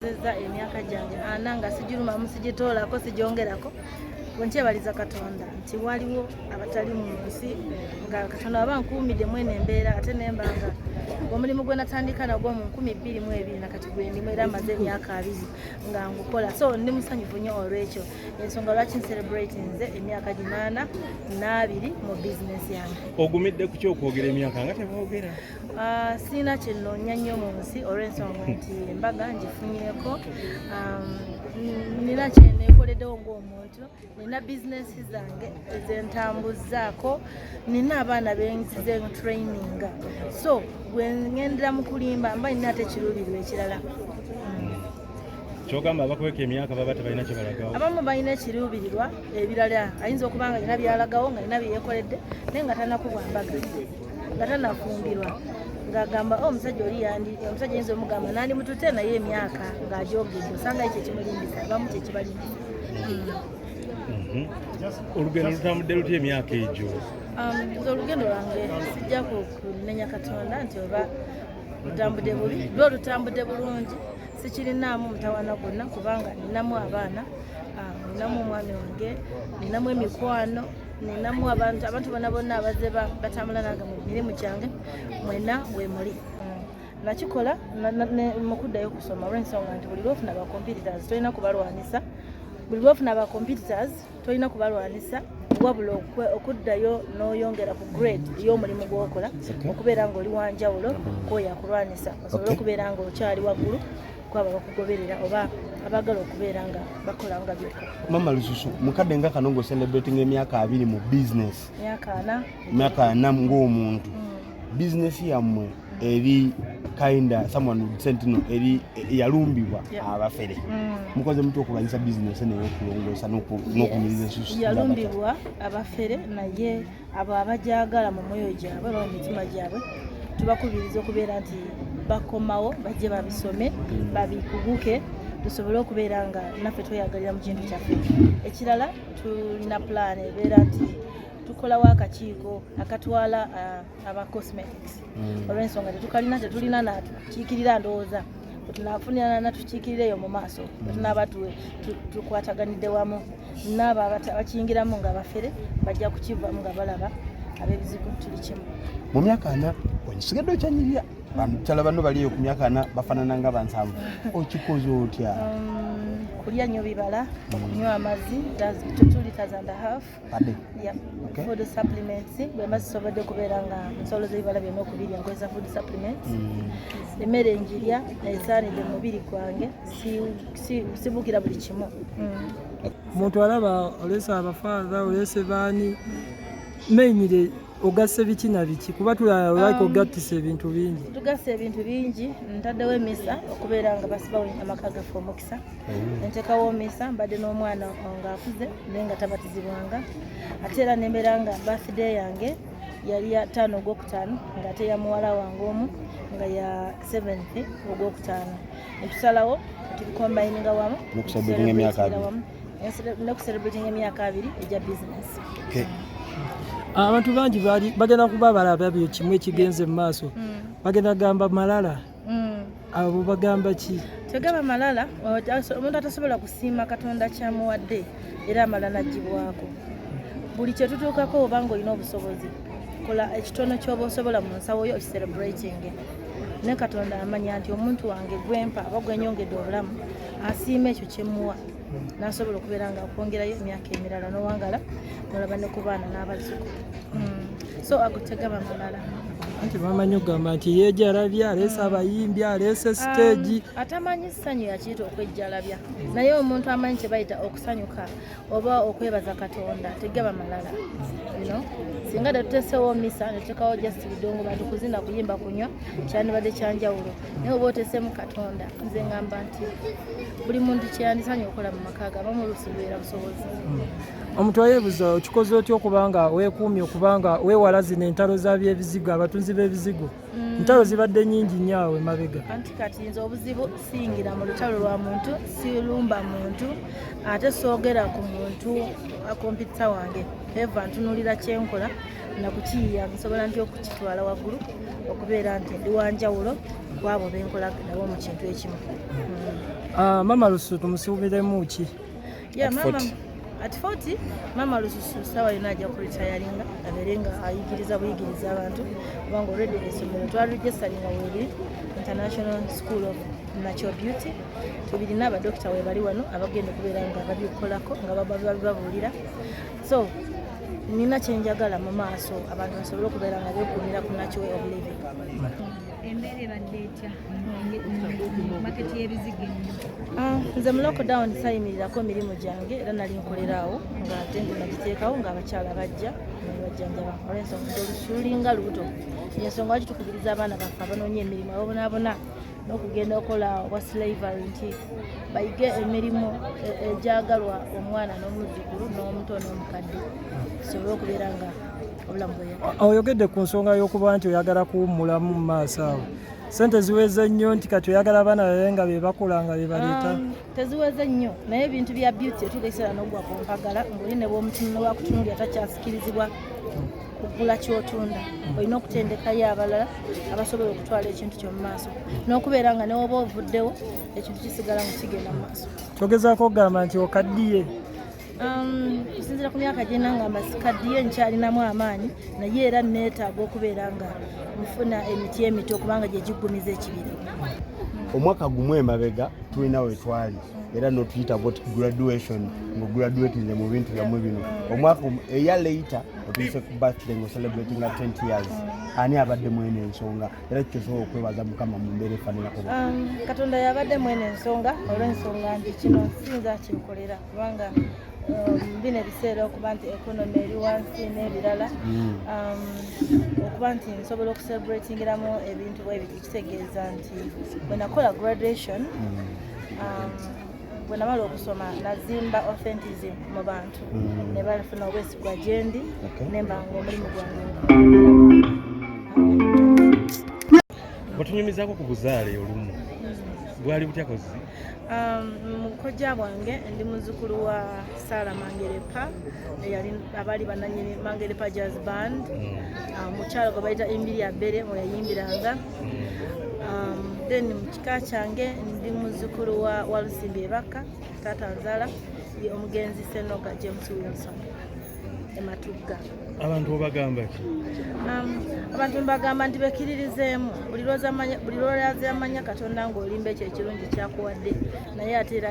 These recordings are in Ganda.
nzeza emyaka gyange ana nga sigirumamu sigitoolako sigyongerako wenkyebaliza katonda nti waliwo abatali mu nsi nga katonda aba nkuumidde mwene embeera ate nemba nga omulimu gwe natandika nagwo mu nkumi bbiri mu ebiri nakati gwendimu era amaze emyaka abiri nga ngukola so ndi musanyufu nnyo olwekyo ensonga lwaki ncelebrate nze emyaka ginaana n'abiri mu bizinesi yange ogumidde ku kyokwogera emyaka nga tebogera Ah, sirina kyennoonya nnyo mu nsi olw'ensonga nti embaga ngifunyeko um, nina kyeneekoleddewo ng'omuntu nina bizinesi zange ezentambuzzaako nina abaana benzize traininga so bwe ŋendera mu kulimba mba nina ate ekiruubirirwa ekirala kyogamba abakweka emyaka baba tebalina kyebalagawo abamu balina ekiruubirirwa ebirala ayinza okuba nga alina byalagawo nga alina byeyekoledde naye nga tanakubwa mbaga nga tanafumbirwa ng'agamba oh, omusajja oli yandi omusajja yinza omugamba nandi mutute naye emyaka ng'agyogedde osanga ekyo ekimulindisa abamu kyekibalimbisa mhm. olugendo lutambudde lutya emyaka egyo um, nze olugendo lwange sijja kunenya katonda nti oba lutambudde bubi lwo lutambudde bulungi sikirinaamu mutawana gwonna kubanga ninamu abaana um, ninamu omwami wange ninamu emikwano nenamu abantu abantu bona bonna abazze batambula nange mu mirimu gyange mwena wemuli nakikola mukuddayo okusoma olwensonga nti buli lwofuna bacomputers tolina kubalwanisa buli lwofuna bacomputers tolina kubalwanisa wabula okuddayo n'oyongera ku grade ey'omulimu gwokola okubeera ngaoli wanjawulo kwoyakulwanisa osobole okubeera ngaokyali waggulu kwabo abakugoberera oba abagala okubeera nga bakola nga byoka mama lususu mukadde nga kano ngaocelebrating emyaka abiri mu business myaka ana ngaomuntu mm. business yammwe eri kinda someone sentino eri yalumbibwa abafere mm. mukoze mutya okulwanyisa business neyokulongoosa n'okunyiriza ensusu yalumbibwa abafere naye abo abagyagala mu mwoyo gyabwe oba mu mitima gyabwe tubakubiriza okubeera nti bakomawo bajje babisome hmm. babikuguke tusobole okubeera nga naffe tweyagalira mu kintu kyaffe ekirala tulina pulaani ebeera nti tukolawo akakiiko akatwala uh, aba cosmetics hmm. olw'ensonga tetukalina tetulina nakiikirira ndowooza tunafunirana natukiikirira eyo mu maaso tunaaba tukwataganidde wamu naabo abakiyingiramu nga bafere bajja kukivamu nga balaba abebizibu tuli kimu mu myaka ana osigadde okyanyirira bamukyala banno baliyo ku myaka ana bafanana nga bansanvu okikoze otya um, kulya nyo bibala okunywa amazzi tutuli tazanda hafu food supplements bwemba zisobodde okubeera nga nsolo zebibala byonna okubirya nkozesa food supplements mm. emmere njirya esaanidde mu mubiri gwange sibuukira buli kimu mm. omuntu alaba olesa abafaadha olese baani mainire ogasse biki na biki kuba tulaba like um, ogattisa ebintu bingi tugasse ebintu bingi ntaddewo emisa okubeera nga basibawo amaka gaffe omukisa mm. entekawo omisa mbadde n'omwana ngaakuze naye nga tabatizibwanga ate era nembeera nga bafide yange yali ya taano ogwokutaano ngaate ya muwala wange omu nga ya seventh ogwokutaano netusalawo tubikombayininga wamu nokuserebratinga emyaka abiri egya bizinesi ah, abantu bangi bagenda kuba balaba byo kimu ekigenze mu maaso mm. bagenda kugamba malala mm. abo bagamba ki tegaba malala omuntu atasobola kusiima katonda kyamuwadde era amala nagibwako buli kyetutuukako oba nga olina obusobozi kola ekitono kyoba osobola mu nsawo yo okicelebratinge ne katonda amanya nti omuntu wange gwempa aba gwenyongedde obulamu asiima ekyo kyemuwa nasobola okubeera nga akwongerayo emyaka emirala nowangala nolaba ne ku baana n'abazuku hmm. so agutega bamamala anti bamanyi okugamba nti yejalabya aleese hmm. abayimbi aleese um, siteegi atamanyi ssanyu yakiita okwejjalabya naye omuntu amanyi kyebayita okusanyuka oba okwebaza katonda tegaba malala bino singa tetutesewo misa netutekawo just bidongo bantu kuzina kuyimba kunywa kyandibadde kyanjawulo naye oba otesemu katonda nze ngamba nti buli muntu kyeyandisanye okukola mu maka ge abamu oluusi lubeera busobozi hmm. omuntu ayebuza okikoze otya okubanga wekuumye okubanga wewala zino entalo za byebizigo abatunzi b'ebizigo Mm. ntalo zibadde nyingi nnyo awo emabega anti kati nze obuzibu siyingira mu lutalo lwa muntu silumba muntu ate soogera ku muntu akompita wange eva ntunulira kyenkola nakukiyiya nsobola nti okukitwala waggulu okubeera nti ndi wanjawulo kwabo benkola nabo mu kintu ekimu mm. ah, mama lusutu musiwubiremu ki yeah, at 40 at 40 maama lususu sawa yona ajja kuritayaringa abeere nga ayigiriza buyigiriza abantu kubanga olredi esomero twaregistaringa weri international school of natural beauty tubirina abadokita webali wano abagenda okubeera nga babikukolako nga bababuulira so nina kyenjagala mu maaso abantu basobole okubeera nga bekumira ku natural of living embeera ebadde etya maketi y'ebizigo ah, nze mu lockdown sayimirirako emirimu gyange era nali nkolerawo nga ate ndi nagiteekawo ng'abakyala bajja bajjanjaba olwensonga olusuuli nga lubuto yensonga lwaki tukubiriza abaana baffe abanoonya emirimu abonaabona n'okugenda okola obwa slavery nti bayige emirimu e, egyagalwa omwana n'omuzzukulu n'omuto n'omukadde tusobole okubeera nga oyogedde ku nsonga y'okuba nti oyagala kuwummulamu mu maaso awo sente ziweze nnyo nti kati oyagala abaana babe nga bebakola nga bebaleeta um, teziweze nnyo naye ebintu bya beauty etugaisera nogwa ku mpagala ngaoli ne bwomutunula wakutunulira takyasikirizibwa kugula kyotunda hmm. olina okutendekayo abalala abasobola okutwala ekintu kyomumaaso n'okubeera nga newoba ovuddewo ekintu kisigala mu kigenda mu maaso kyogezaako okugamba nti okaddiye Um, okusinzira ku myaka gye nanga masikaddiyo nkyalinamu amaanyi naye era neetaaga okubeera nga nfuna emiti emito kubanga gye giggumiza ekibiri omwaka gumu emabega tulina wetwali era notuyita got graduation nga graduatinze mu bintu byammwe bino omwaka eya leita otuyise ku birthday nga celebrating a 20 years ani abadde mwene ensonga era kikyosobola okwebaza mukama mu mbeera efanirako um, katonda yabadde mwene ensonga olwensonga nti kino sinza kyekolera kubanga um, bino ebiseera okuba nti economy eri wansi n'ebirala hmm. um, okuba nti nsobola okucelebratingiramu ebintu bwebiti kitegeeza nti bwenakola graduation hmm. um, bwe namala okusoma nazimba authentism mu bantu mm. ne bafuna obwesigwa gyendi nemba nga omulimu gwange batunyumizako ku buzaale olumu bwali butya kozi Um, mukojja bwange ndi muzukulu wa sara mangerepa eyali abaali bananyini mangerepa jazz band mm. um, mukyalo gwe bayita embiri ya bere mweyayimbiranga mm. um, then mukika kyange ndi muzukulu wa walusimbi ebakka taata nzala ye omugenzi senoga james wilson ematugga abantu obagamba ki um, abantu mbagamba nti bekiririzeemu buli lwolaza amanya katonda ngaolimba ekyo ekirungi kyakuwadde naye ate era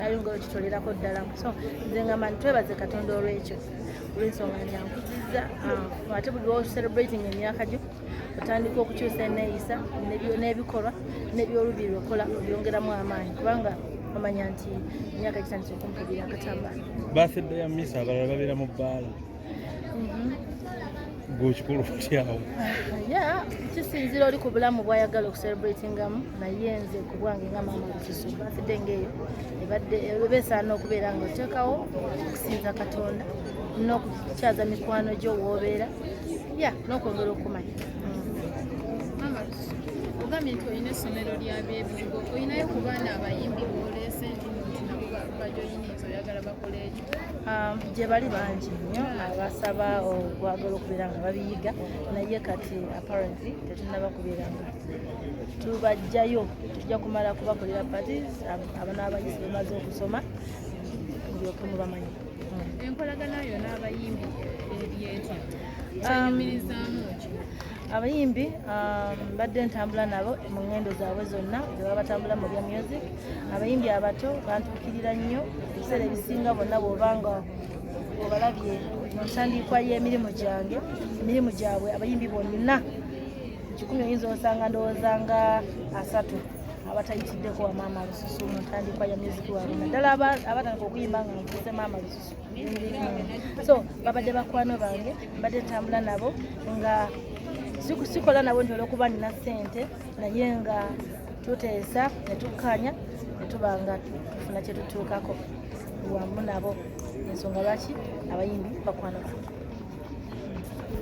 ayongera okitolerako ddala so nze ngamba nti twebaze katonda olwekyo olwensonga nyankuzizza um, ate buli lwocelebrating emyaka gyo otandika okukyusa eneeyisa n'ebikolwa n'ebyolubiri lwokola obyongeramu amaanyi kubanga omanya nti emyaka gitandise okumpulira akatamba bathedde ya misa abalala babeera mu bbaala mhm. gwekikulu kutyawo ya kisinzira oli ku bulamu bwayagala okucelebratingamu naye nze ku bwange nga maama lukisu bathedde ngaeyo ebadde eba esaana okubeera nga oteekawo okusinza katonda n'okukyaza mikwano gyo woobeera ya n'okwongera okumanya ogambye nti olina essomero lya byebigo olinayo ku baana abayimbi boleese nti bajoyiniza oyagala bakole ekyo um, gye bali bangi nnyo abasaba okwagala okubeera nga babiyiga naye kati apparently tetunaba kubeera nga tubajjayo tujja kumala kubakolera parties abana abayizi bamaze okusoma mulyoke mubamanyi enkolagana yo n'abayimbi ebyetya kyeyimirizaamu um, ki abayimbi um, badde ntambula nabo mu ngendo zaabwe zonna zebaba batambula mu bya music abayimbi abato bantukirira nnyo ebiseera ebisinga bonna bwoba nga obalabye mu ntandiikwa y'emirimu gyange emirimu gyabwe abayimbi bonna kikumi oyinza osanga ndowooza nga asatu abatayitiddeko wa maama lususu mu ntandikwa ya muziki wabwe naddala abatandika okuyimba nga nkuze maama lususu so babadde bakwano bange mbadde ntambula nabo nga sikola nabo nti olwokuba nina ssente naye nga tuteesa ne tukkanya ne tuba nga tufuna kye tutuukako wamu nabo ensonga lwaki abayimbi bakwano bange